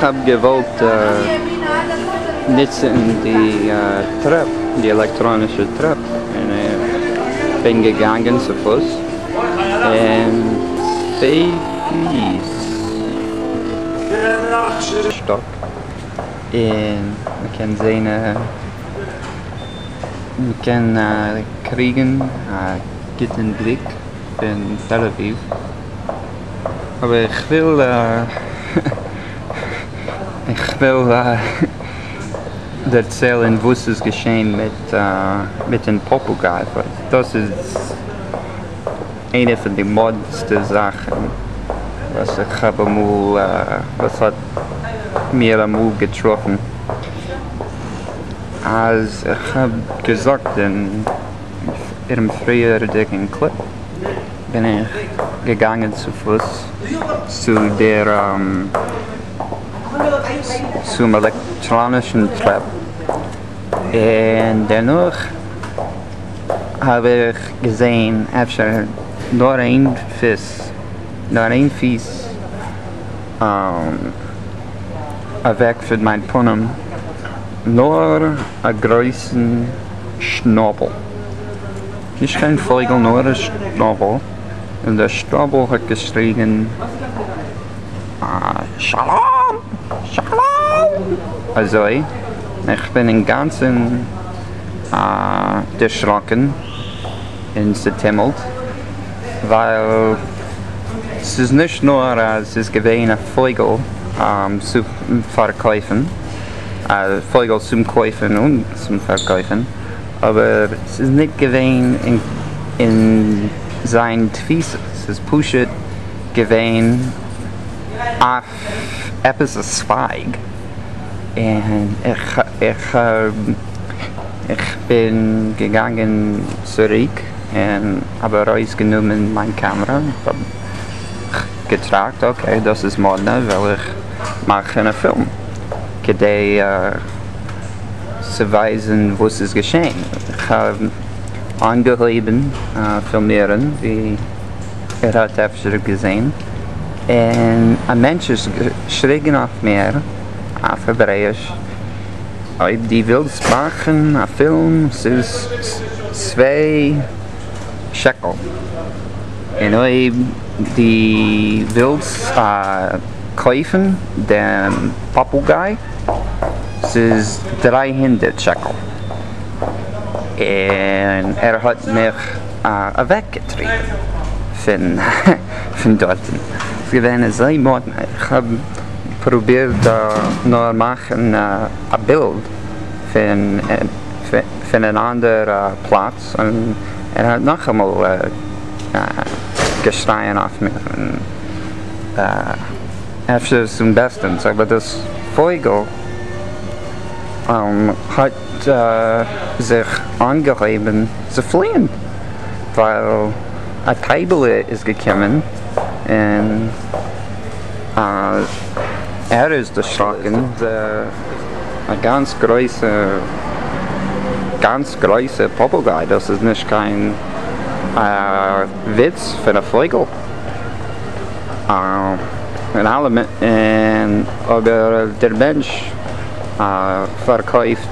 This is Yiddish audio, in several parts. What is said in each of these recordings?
כ'האב געוואלט נוצן די טרעפ, די עלעקטראנישע טרעפ, און כ'בין געגאנגען צו פוס, און צוויי פיס שטאק, און מ'קען זעהן, מ'קען קריגן א גוטן בליק פון תל אביב. אבער איך וויל איך וויל דערציילען וואס איז געשעהן מיט מיטען פאפוגאי ווייל דאס איז איינער פון די מאדנסטע זאכען וואס איך האב אמאל וואס האט מיר אמאל געטראפען אז איך האב געזאגט און פריערדיגען קליפ. בין איך געגאנגען צו פוס צו דער צום עלעקטראנישן טרעפ, און דערנאך האב איך געזען אפשר נאר איין פוס, נאר איין פיס אוועק פון מיין פנים, נאר א גרויסן שנאבל. נישט קיין פֿויגל, נאָר אַ שטראָבל. און דער שטראָבל האָט געשריגן, שלום! שלום! אַזוי, און כ'בין אין גאַנצן דערשראָקן און צעטומלט, ווייל ס'איז נישט נאָר אַז ס'איז געווען אַ פֿויגל צו פֿאַרקויפֿן, אַ פֿויגל צום קויפֿן און צום פֿאַרקויפֿן, אבער ס'איז ניט געווען אין זיין תפיסה, ס'איז פשוט געווען אויף עפעס א צווייג, און איך בין געגאנגען צוריק און האב ארויס גענומען מיין קעמרא, האב געטראכט אקעי דאס איז מאדנע, וועל איך מאכן א פילם כדי. צו ווייזן וואס איז געשען, כ'האב אנגעהויבן פילמירן ווי ער האט אפשר געזען און א מענטש איז געשריגן אויף מיר אויף העברעיש, אויב די ווילסט מאכן א פילם ס'איז צוויי שקל, און אויב די ווילסט קויפן דעם פאפוגיי ס'איז דריי הונדערט שקל און ער האט מיך אוועק געטריבן פון דארטן, ס'איז געווען אזוי מאדנע, איך האב פרובירט נאר מאכן א בילד פון אן אנדערע פלאץ און ער האט נאכאמאל געשרייען אויף מיר. אפשר איז עס אמבעסטענס אבער דאס פויגל האט זיך אנגעהויבן צו פליען ווייל א טייבעלע איז געקומען און ער איז דערשראקן א גאנץ גרויסע גאנץ גרויסע פאפוגיי דאס איז נישט קיין וויץ פון א פויגל און אלע און אבער דער מענטש פארקויפט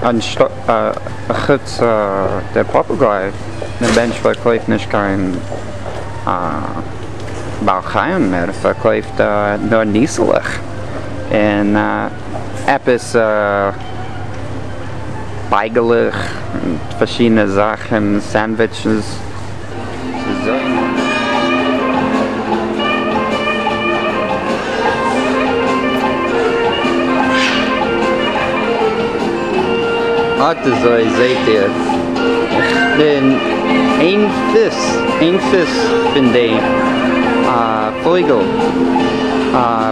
אנשטאט חוץ דער פאפוגיי דער מענטש פארקויפט נישט קיין בעל חיים ער פארקויפט נאר ניסלעך און עפעס. בייגעלעך און פארשידענע זאכן סענדוויטשעס. אט אזוי זעהט איר איך בין איין פיס איין פיס פון די פויגעל.